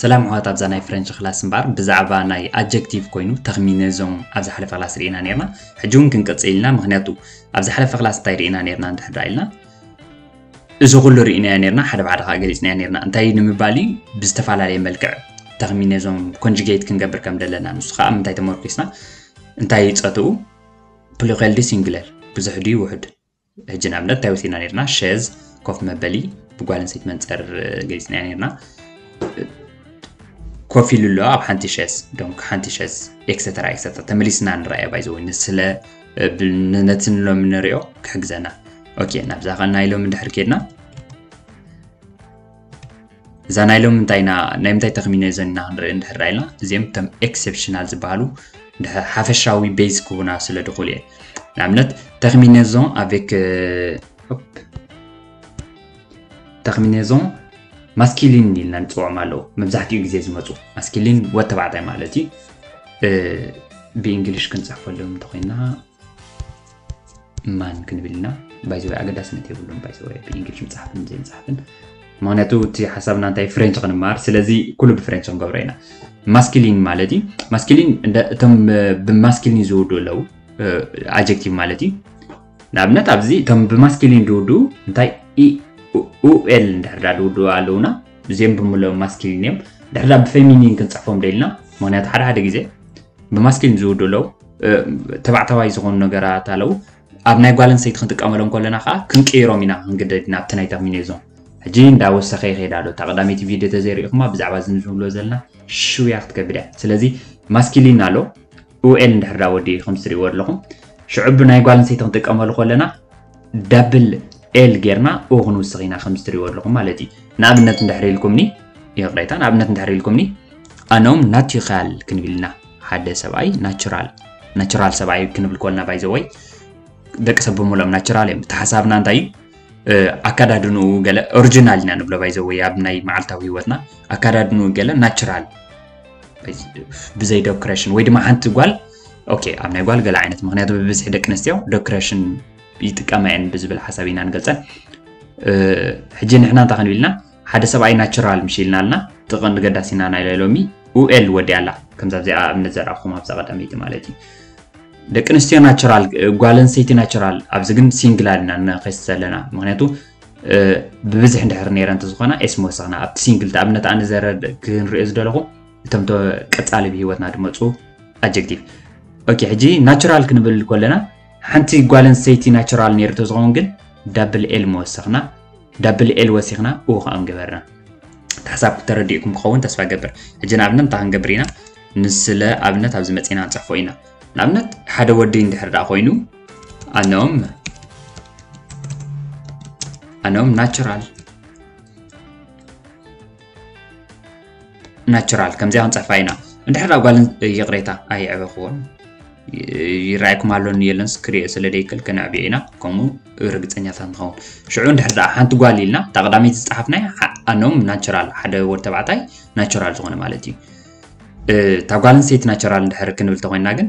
ሰላም ኣሕዋት ኣብዛ ናይ ፍረንች ክላስ እምበኣር ብዛዕባ ናይ ኣጀክቲቭ ኮይኑ ተክሚነዞም ኣብ ዝሓለፈ ክላስ ርኢና ነርና ሕጂ እውን ክንቅፅል ኢና ምክንያቱ ኣብ ዝሓለፈ ክላስ እንታይ ርኢና ነርና እንድሕር ኢልና እዚ ኩሉ ርኢናዮ ኔርና ሓደ ብሓደ ከኣ ገሊጽናዮ ኔርና እንታይ እዩ ንምባል እዩ ብዝተፈላለየ መልክዕ ተኽሚ ነዞም ኮንጁጌት ክንገብር ከም ዘለና ንሱ ከኣ ምንታይ ተመርኪስና እንታይ እዩ ጸትኡ ፕሉኸል ድዩ ሲንግለር ብዙሕ ድዩ ውሑድ ሕጂ ንኣብነት እንታይ ወሲድና ኔርና ሸዝ ኮፍ መበሊ ብጓል ኣንስተይቲ መንጸር ገሊጽናዮ ኔርና ኮፍ ኢሉ ኣሎ ኣብ ሓንቲ ሸዝ ዶንክ ሓንቲ ሸዝ ኤክሰተራ ኤክሰተራ ተመሊስና ንረኣያ ባይዘወይ ንስለ ነቲ ሎሚ ንሪኦ ክሕግዘና ኦኬ ናብዛ ከ ናይ ሎሚ ድሕር ኬድና እዛ ናይ ሎሚ እንታይ ኢና ናይ ምንታይ ተኽሚነ ዘና ክንርኢ እንድሕር ኢልና እዚኦም እቶም ኤክሴፕሽናል ዝበሃሉ ሓፈሻዊ ቤዝ ክቡና ስለ ድኽእሉ እየ ንኣብነት ተኽሚነዞን ኣቬክ ተኽሚነዞን ማስኪሊን ኢልና ንፅውዖም ኣለዉ መብዛሕትኡ ግዜ ዝመፁ ማስኪሊን ወድ ተባዕታይ ማለት እዩ ብእንግሊሽ ክንፅሕፈሎም እንተኮይና ማን ክንብል ኢና ባይዘወይ ኣገዳስነት የብሉን ባይዘወይ ብእንግሊሽ ምፅሓፍን ዘይምፅሓፍን ምክንያቱ እቲ ሓሳብና እንታይ ፍሬንች ክንመሃር ስለዚ ኩሉ ብፍሬንች ክንገብሮ ኢና ማስኪሊን ማለት እዩ ማስኪሊን እቶም ብማስኪሊን ዝውዱ ኣለው ኣጀክቲቭ ማለት እዩ ንኣብነት ኣብዚ እቶም ብማስኪሊን ድውድኡ እንታይ ኢኡኤል እንድሕር ዳ ድውድኡ ኣለውና እዚኦም ብምልኦም ማስኪሊን እዮም ድሕር ዳ ብፌሚኒን ክንፅሕፎም ደኢልና ምክንያቱ ሓደ ሓደ ግዜ ብማስኪሊን ዝውድኡ ኣለዉ ተባዕታዋይ ዝኾኑ ነገራት ኣለዉ ኣብ ናይ ጓል ኣንስተይቲ ክንጥቀመሎም ከለና ከዓ ክንቅይሮም ኢና ክንግደድ ኢና ኣብቲ ናይ ተሚኒ እዞም ሕጂ እንዳወሰኸ ይኸይድ ኣሎ እታ ቀዳመይቲ ቪድዮ ተዘይርኢኹማ ብዛዕባ እዚ ንዝብሎ ዘለና ሽውያ ክትከብድ እያ ስለዚ ማስኪሊን ኣሎ ኡኤል እንድሕር ዳኣ ወዲኡ ከምቲ ትሪእዎ ኣለኹም ሽዑ ብናይ ጓል ኣንስተይቲ ክንጥቀመሉ ከለና ዳብል ኤል ጌርና ኡ ክንውስኽ ኢና ከምቲ ትሪእዎ ኣለኹም ማለት እዩ ንኣብነት እንድሕር ኢልኩምኒ ይቕሬታ ንኣብነት እንድሕር ኢልኩምኒ ኣነም ናቲኻል ክንብል ኢና ሓደ ሰብኣይ ናቹራል ናቹራል ሰብኣይ ክንብል ኮልና ባይዘወይ ደቂ ሰብ ብምሎም ናቸራል እዮም ተሓሳብና እንታይ እዩ ኣካዳድንኡ ገለ ኦሪጂናል ኢና ንብሎ ባይዘወይ ኣብ ናይ መዓልታዊ ሂወትና ኣካዳድንኡ ገለ ናቸራል ብዘይ ዶክሬሽን ወይ ድማ ሓንቲ ጓል ኦኬ ኣብ ናይ ጓል ገለ ዓይነት ምክንያቱ ብብዝሒ ደቂ ኣንስትዮ ዶክሬሽን ይጥቀማ እየን ብዝብል ሓሳብ ኢና ንገልፀን ሕጂ ንሕና እንታይ ክንብል ኢልና ሓደ ሰብኣይ ናቸራል ምሽ ኢልና ኣለና ጥቕን ገዳሲና ናይ ላይ ሎሚ ኡኤል ወዲያ ኣላ ከምዛ ዚኣ እምነት ዘረኣኹም ኣብዛ ቀዳመይቲ ማለት እዩ ደቂ ኣንስትዮ ናቸራል ጓል ኣንስተይቲ ናቸራል ኣብዚ ግን ሲንግል ኣለና ንኸስ ዘለና ምክንያቱ ብብዝሕ እንድሕር ነረ እንተዝኾና ኤስ ምወሰኽና ኣብቲ ሲንግል ተኣብነት ኣነ ዘረ ክንሪኦ ዝደለኹ እቶም ቀፃሊ ብሂወትና ድመፁ ኣጀክቲቭ ኦኬ ሕጂ ናቹራል ክንብል ኮለና ሓንቲ ጓል ኣንስተይቲ ናቹራል ነይሩ ተዝኸውን ግን ዳብል ኤል ምወሰኽና ዳብል ኤል ወሲኽና እዎ ከዓ ምገበርና ተሓሳብ ተረዲእኩም ክኸውን ተስፋ ገብር ሕጂ ንኣብነት እንታይ ክንገብር ኢና ንስለ ኣብነት ኣብዚ መፂና ንፅሕፎ ኢና ንኣብነት ሓደ ወዲ እንድሕር ደኣ ኮይኑ Un homme Un homme natural ናቹራል ከምዚኣ ክንፅሕፋ ኢና እንድሕር ጓል ይቕሬታ ኣይዕበኽዎን ይረኣይኩም ኣሎ የለንስ ክሪኦ ስለ ደይክእል ከነዕብዮ ኢና ከምኡ ርግፀኛታት ንኸውን ሽዑ እንድሕር ደኣ ሓንቲ ጓል ኢልና እታ ቀዳመይቲ ዝፀሓፍናይ ኣኖም ናቸራል ሓደ ወድ ተባዕታይ ናቸራል ዝኾነ ማለት እዩ እታ ጓል ኣንስተይቲ ናቸራል እንድሕር ክንብል ተኮይና ግን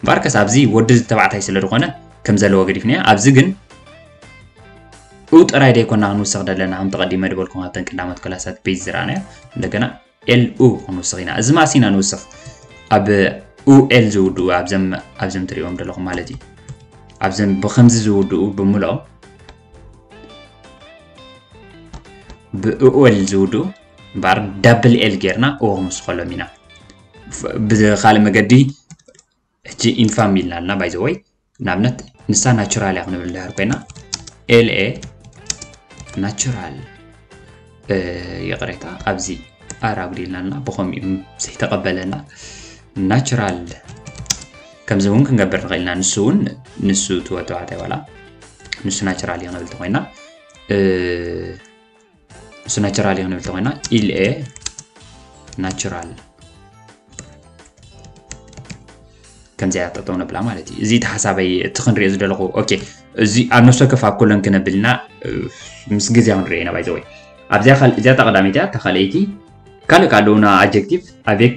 እምበኣርከስ ኣብዚ ወዲ እዚ ተባዕታይ ስለ ዝኾነ ከም ዘለዎ ገዲፍናዮ ኣብዚ ግን እው ጥራይ ደይኮና ክንውስኽ ዘለና ከምቲ ቀዲመ ድበልኩም ኣብተን ቀዳሞት ክላሳት ቤዝ ዝረኣናዮ እንደገና ኤል ኡ ክንውስኽ ኢና እዚ ማእሲ ኢና ንውስኽ ኣብ ኡኤል ዝውድኡ ኣብዘም ኣብዘም ትሪእዎም ዘለኹም ማለት እዩ ኣብዘም ብከምዚ ዝውድኡ ብምልኦም ብኡኤል ዝውድኡ እምበኣር ዳብል ኤል ጌርና እዎ ክንውስኸሎም ኢና ብካልእ መገዲ ሕጂ ኢንፋም ኢልና ኣለና ባይ ዘ ወይ ንኣብነት ንሳ ናቹራል እያ ክንብል ድሃር ኮይና ኤልኤ ናቹራል ይቕሬታ ኣብዚ ኣር ኣጉዲልና ኣለና ብከምኡ ዘይተቐበለና ናቹራል ከምዚ እውን ክንገብር ንኽእል ኢና ንሱ እውን ንሱ ትወተዋታይ ዋላ ንሱ ናቹራል እዩ ክንብል ተኮይና እሱ ናቸራል እዩ ክንብል ተኮይና ኢልኤ ናቸራል ከምዚኣ ጠጠው ነብላ ማለት እዩ እዚ ተሓሳበይ እቲ ክንሪኦ ዝደለኹ ኦኬ እዚ ኣብ ነፍሲ ወከፍ ኣብ ኮሎን ክነብልና ምስ ግዜ ክንሪኦ ኢና ባይዘወይ ኣብዚኣ እዚኣ ተቐዳሚት እያ ተካልኣይቲ ካልእ ካልኡና ኣጀክቲቭ ኣቤክ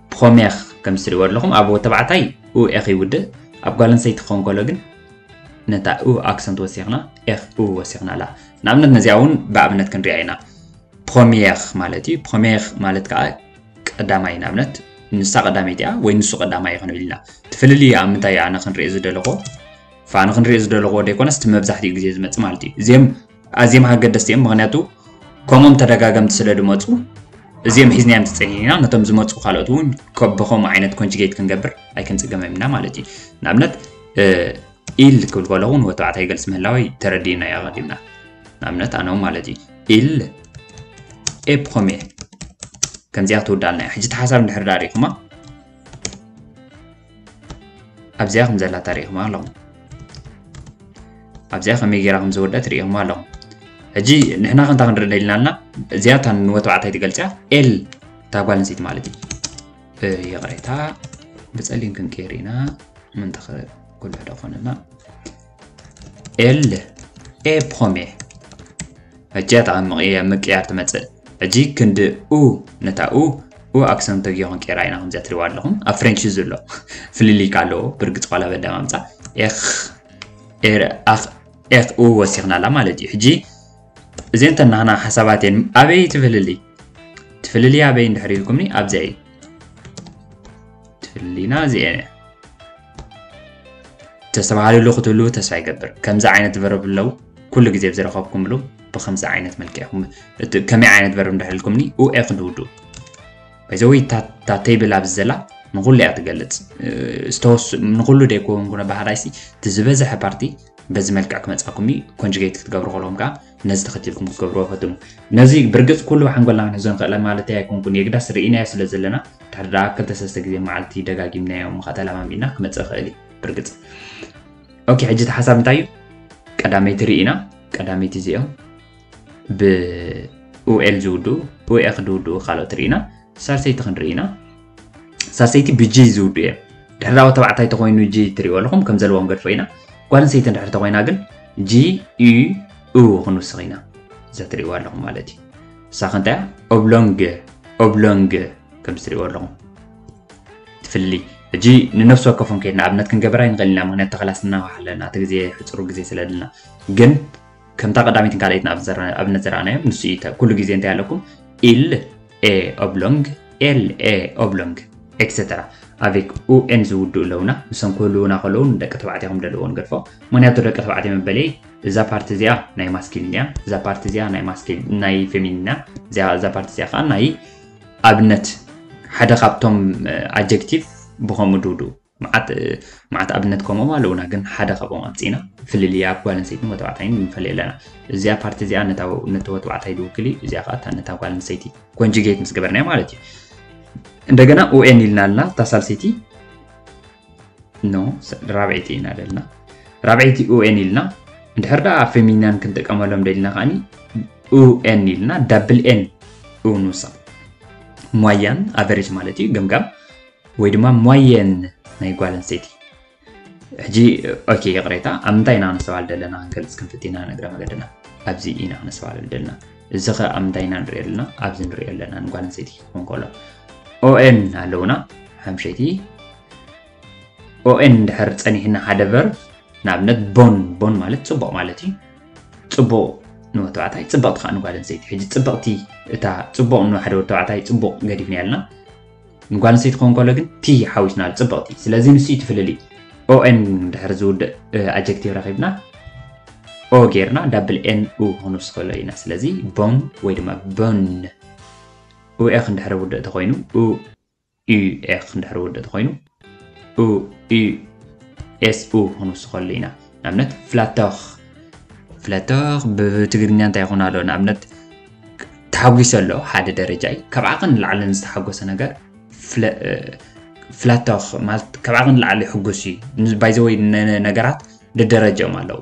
ፕኾሜኽ ከምቲ ትሪእዎ ኣለኹም ኣብ ወዲ ተባዕታይ ኡ ኤኽ ይውድእ ኣብ ጓል ኣንስተይቲ ክኸውን ከሎ ግን ነታ ኡ ኣክሰንት ወሲኽና ኤኽ ኡ ወሲኽና ኣላ ንኣብነት ነዚኣ እውን ብኣብነት ክንሪኣ ኢና ፕኾሜኽ ማለት እዩ ፕኾሜኽ ማለት ከዓ ቀዳማይ ንኣብነት ንሳ ቀዳመይቲ እያ ወይ ንሱ ቀዳማይ ይኾነ ኢልና እቲ ፍልልይ ኣብ ምንታይ ኣነ ክንሪኦ ዝደለኹ ፋኑ ክንሪኦ ዝደለኹዎ ደይኮነስ እቲ መብዛሕትኡ ግዜ ዝመፅእ ማለት እዩ እዚኦም ኣዝየም ኣገደስቲ እዮም ምክንያቱ ከምኦም ተደጋገምቲ ስለ ድመፁ እዚኦም ሒዝናዮም ተፀኒሕና ነቶም ዝመፁ ካልኦት እውን ከምኡ ዓይነት ኮንጅጌት ክንገብር ኣይክንፅገመም ኢና ማለት እዩ ንኣብነት ኢል ክብል ከለኹ ንወዲ ተባዕታይ ይገልፅ ምህላወይ ተረዲእና እዩ ኣቐዲምና ንኣብነት ኣነ ማለት እዩ ኢል ኤ ፕሮሜር ከምዚኣ ትውዳልና እያ ሕጂ እቲ ሓሳብ እንድሕር ዳሪኹማ ኣብዚኣ ከም ዘላታ ርኢኹማ ኣለኹም ኣብዚኣ ከመይ ጌራ ከም ዝወደት ርኢኹማ ኣለኹም ሕጂ ንሕና ከንታ ክንርኢ ደሊና ኣለና እዚኣ እታ ንወተባዕታይ ትገልፅያ ኤል እታ ጓል ኣንስተይቲ ማለት እዩ ይቕሬታ ብፀሊም ክንቀይር ኢና ምንተ ኩሉ ሕደ ኮነና ኤል ኤ ፖሜ ሕጂ ኣተዓምቕየ ምቅያር ትመፅእ ሕጂ ክንዲ ኡ ነታ ኡ ኡ ኣክሰን ተግዮ ክንቀይራ ኢና ከምዚኣ ትሪዋ ኣለኹም ኣብ ፍሬንች እዩ ዘሎ ፍልልይ ከ ኣለዎ ብርግፅ ዋላ በዳማምፃ ኤኽ ኤር ኣኽ ኤኽ ኡ ወሲኽና ኣላ ማለት እዩ ሕጂ እዚን ተናህና ሓሳባት እየን ኣበይ ትፍልልይ ትፍልልይ ኣበይ እንድሕር ኢልኩምኒ ኣብዚኣ እዩ ትፍልልይና እዚኤን እያ ተስተብሃልሉ ክትህልዉ ተስፋ ይገብር ከምዚ ዓይነት ቨርብ ለው ኩሉ ግዜ ብዝረኸብኩምሉ ብከምዚ ዓይነት መልክዕ ኢኹም ከመይ ዓይነት ቨርብ እንዳሕልኩምኒ ኡኤ ክንድውዱ በዘዊ እታ ቴብል ኣብዚ ዘላ ንኩሉ እያ ትገልፅ ዝተወስ ንኩሉ ደይኮውን ኩነ ባህራይሲ እቲ ዝበዝሐ ፓርቲ በዚ መልክዕ ክመፃኩም እዩ ኮንጅጌት ክትገብሩ ከለዎም ከዓ ነዚ ተኸቲልኩም ክትገብርዎ ፈትኑ። ነዚ ብርግጽ ኩሉ ብሓንጎልና ክንሕዞ ንኽእለ ማለተይ ኣይኮንኩን፣ የግዳስ ርኢናዮ ስለ ዘለና፣ ድሕሪ ደኣ ክልተ ሰለስተ ግዜ መዓልቲ ደጋጊምናዮ እሞ ከኣ ተለማሚድና ክመጽእ ይኽእል እዩ ብርግጽ። ኦኬ ሕጂ እቲ ሓሳብ እንታይ እዩ? ቀዳመይቲ ርኢና፣ ቀዳመይቲ እዚኦም ብ ኡኤል ዝውድኡ ኡኤኽ ዝውድኡ ካልኦት ርኢና፣ ሳልሰይቲ ክንርኢ ኢና። ሳሰይቲ ብጅይ ዝውዱ እየ ድሕሪ ኣብ ተባዕታይ ተኮይኑ ጂ ትሪእዎ ኣለኹም ከም ዘለዎ ክንገድፎ ኢና ጓል ኣንሰይቲ ድሕሪ ተኮይና ግን ጂ ዩ ኡ ክንውስኽ ኢና እዛ ትሪእዎ ኣለኹም ማለት እዩ እሳ ከንታይ እያ ኦብሎንግ ኦብሎንግ ከም ዝትሪእዎ ኣለኹም ትፍሊ ሕጂ ንነፍሲ ወከፎም ከይድና ኣብነት ክንገብራ ይንኽእል ኢና ምክንያት ተኸላስ እናዋሓለና እቲ ግዜ ሕፅሩ ግዜ ስለለና ግን ከምታ ቀዳሚትን ካልኣይትን ኣብነት ዘረኣናዮም ንሱ እዩ ኩሉ ግዜ እንታይ ኣለኩም ኢል ኤ ኦብሎንግ ኤል ኤ ኦብሎንግ ኤክሰተራ ኣቤክ ኡኤን ዝውድኡ ኣለውና ንሶም ክህልውና ከለዉ ንደቂ ተባዕትዮ ከም ደለዎ ንገድፎ ምክንያቱ ደቂ ተባዕትዮ መበለይ እዛ ፓርቲ እዚኣ ናይ ማስኪሊን እያ እዛ ፓርቲ እዚኣ ናይ ማስኪል ናይ ፌሚኒና እዛ ፓርቲ እዚኣ ከዓ ናይ ኣብነት ሓደ ካብቶም ኣጀክቲቭ ብከምኡ ድውድኡ መዓት መዓት ኣብነት ከምኦም ኣለውና ግን ሓደ ካብኦም ኣምፂእና ፍልልይ ኣብ ጓል ኣንሰይትን ወተባዕታይን ንፈልዮ ኣለና እዚኣ ፓርቲ እዚኣ ነቲ ወተባዕታይ ድውክል እዩ እዚኣ ከዓ እታ ነታ ጓል ኣንሰይቲ ኮንጅጌት ምስ ገበርናዮ ማለት እዩ እንደገና ኡኤን ኢልና ኣለና እታ ሳልሰይቲ ኖ ራብዐይቲ ኢና ደልና ራብዐይቲ ኡኤን ኢልና እንድሕር ደኣ ፌሚናን ክንጥቀመሎም ደልና ከዓኒ ኡኤን ኢልና ዳብል ኤን እውን ንውሳ ሟያን ኣቨሬጅ ማለት እዩ ገምጋም ወይ ድማ ሞየን ናይ ጓል ኣንስተይቲ ሕጂ ኦኬ ይቕሬታ ኣብ ምንታይ ኢና ክነስተባል ዘለና ክንገልፅ ክንፍት ኢና ነግረ መገድና ኣብዚ ኢና ክነስተባል ዘለና እዚ ከ ኣብ ምንታይ ኢና ንሪኦ ኣለና ኣብዚ ንሪኦ ኣለና ንጓል ኣንስተይቲ ክኸውን ከሎ ኦኤን ኣለውና ሓምሸይቲ ኦኤን ድሕር ፀኒሕና ሓደ ቨርብ ንኣብነት ቦን ቦን ማለት ፅቡቕ ማለት እዩ ፅቡቕ ንወዲ ተባዕታይ ፅብቕቲ ከዓ ንጓል ኣንስተይቲ ሕጂ ፅብቕቲ እታ ፅቡቕ ንሓደ ወዲ ተባዕታይ ፅቡቕ ገዲፍና ኣለና ንጓልንስተይቲ ክኾን ከሎ ግን ቲ ሓዊስናሉ ጽብቕቲ ስለዚ ንሱ እዩ ትፍልልይ ኦኤን ድሕሪ ዝውድእ ኣጀክቲቭ ረኺብና ኦ ጌርና ዳብል ኤን ኡ ክንውስኸሎ ኢና ስለዚ ቦን ወይ ድማ ቦን ኡኤኽ እንድሕሪ ውድእ ተኾይኑ ኡኤኽ እንድሕሪ ውድእ ተኾይኑ ኡ ኡ ኤስ ኡ ክንውስኸሉ ኢና ንኣብነት ፍላቶኽ ፍላቶኽ ብትግርኛ እንታይ ይኹን ኣሎ ንኣብነት ተሓጒሰ ኣሎ ሓደ ደረጃ እዩ ካብ ዓቕን ንላዕልን ዝተሓጎሰ ነገር ፍላቶኽ ማለት ካብ ዓቕን ንላዕሊ ሕጉስ እዩ ባይዘወይ ነገራት ደደረጀኦም ኣለዉ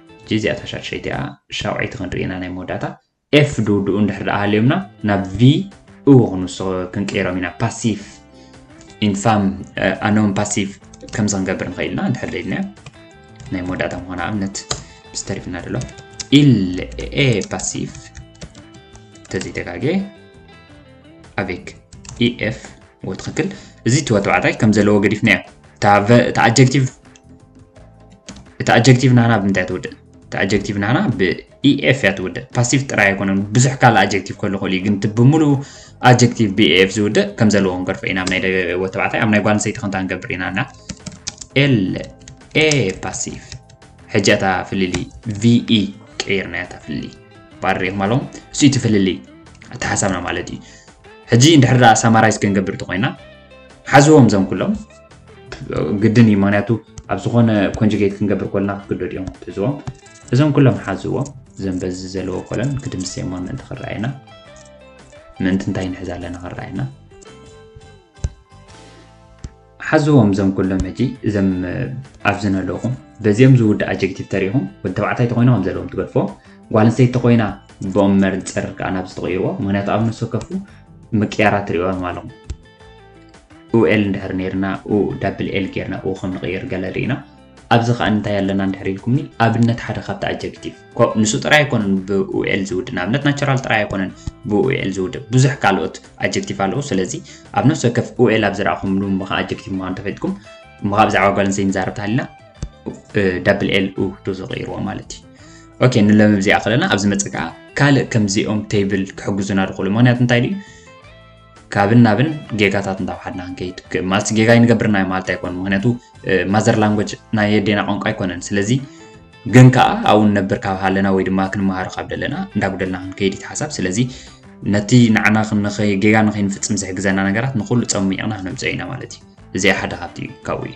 ሕጂ እዚኣ እታ ሻድሸይቲ እያ ሻውዐይቲ ክንርኢ ኢና ናይ መወዳእታ ኤፍ ድውድኡ እንድሕር ደኣ ሃልዮምና ናብ ቪ እዎ ክንውስኽ ክንቅይሮም ኢና ፓሲፍ ኢንፋም ኣኖም ፓሲቭ ከምዚ ክንገብር ንኽእል ኢና እንድሕር ደይድናዮ ናይ መወዳእታ ምኾነ ኣብነት ምስ ተሪፍና ደሎ ኢል ኤ ፓሲቭ ተዘይተጋጌ ኣቤክ ኢኤፍ ወትኽክል እዚ ትወ ተባዕታይ ከም ዘለዎ ገዲፍና እያ እታ ኣጀክቲቭ እቲ ኣጀክቲቭ ናህና ብምንታይ ትውድእ እቲ ኣጀክቲቭ ናህና ብኢኤፍ እያ ትውድእ ፓሲቭ ጥራይ ኣይኮነን ብዙሕ ካልእ ኣጀክቲቭ ከሉ ክእል እዩ ግን እቲ ብምሉ ኣጀክቲቭ ብኢኤፍ ዝውድእ ከም ዘለዎ ክንገርፎ ኢና ኣብ ናይ ደገዎ ተባዕታይ ኣብ ናይ ጓል ኣንስተይቲ ክንታ ንገብር ኢና እና ኤል ኤ ፓሲቭ ሕጂ እታ ፍልሊ ቪኢ ቀይርና እታ ፍልሊ ባር ሪኢኹም ኣለዎ እሱ እቲ ፍልሊ እቲ ሓሳብና ማለት እዩ ሕጂ እንድሕር ሳማራይዝ ክንገብር እንተኮይና ሓዝዎም ዘም ኩሎም ግድን እዩ ምክንያቱ ኣብ ዝኾነ ኮንጅጌት ክንገብር ኮልና ክትግደዱ እዮም ክትሕዝዎ እዞም ኩሎም ሓዝዎ እዞም በዚ ዘለዎ ኮለን ክድምስ እሞ ምእንቲ ክረኣየና ምእንቲ እንታይ ንሕዝ ኣለና ክረኣየና ሓዝዎም እዞም ኩሎም ሕጂ እዞም ኣብዚ ነለኹም በዚኦም ዝውዳእ ኣጀክቲቭ ተሪኢኹም ወዲ ተባዕታይ ተኮይኑ ከም ዘለዎም ትገድፎ ጓል ኣንስተይቲ ተኮይና ብኦም መርፅር ከዓ ናብ ዝተቐይርዎ ምክንያቱ ኣብ ነፍሲ ወከፉ ምቅያራት ትሪእዎም ኣለኹም ኡኤል እንድሕር ነርና ኡ ዳብል ኤል ጌርና ኡ ከም ንቕይር ገለ ርኢና ኣብዚ ከኣ እንታይ ኣለና እንድሕር ኢልኩምኒ ኣብነት ሓደ ካብቲ ኣጀክቲቭ ንሱ ጥራይ ኣይኮነን ብኡኤል ዝውድእ ንኣብነት ናቸራል ጥራይ ኣይኮነን ብኡኤል ዝውድእ ብዙሕ ካልኦት ኣጀክቲቭ ኣለዉ ስለዚ ኣብ ነፍሲ ወከፍ ኡኤል ኣብ ዝረኣኹምሉ ምኻ ኣጀክቲቭ ምዃኑ ተፈልጥኩም ምኻ ብዛዕባ ጓል ኣንስተይቲ ንዛረብ ተሃሊና ዳብል ኤል ኡ ዶ ዝቕይርዎ ማለት እዩ ኦኬ ንሎሚ ብዚኣ ከለና ኣብዚ መጽእ ከዓ ካልእ ከምዚኦም ቴብል ክሕግዙና ድኽእሉ ምክንያቱ እንታይ ድዩ ካብን ናብን ጌጋታት እንዳውሓድና ክንከይድ ማለት ጌጋ ይንገብር ናይ ማለት ኣይኮን ምክንያቱ ማዘር ላንጎጅ ናይ የዴና ቋንቋ ኣይኮነን ስለዚ ግን ከዓ ኣብኡ ንነብር ካብ ሃለና ወይ ድማ ክንመሃሮ ካብ ደለና እንዳጉደልና ክንከይድ እቲ ሓሳብ ስለዚ ነቲ ንዓና ጌጋ ንከይንፍፅም ዝሕግዘና ነገራት ንኩሉ ፀሚቕና ክነምፅኦ ኢና ማለት እዩ እዚኣ ሓደ ካብቲ ካብኡ እዩ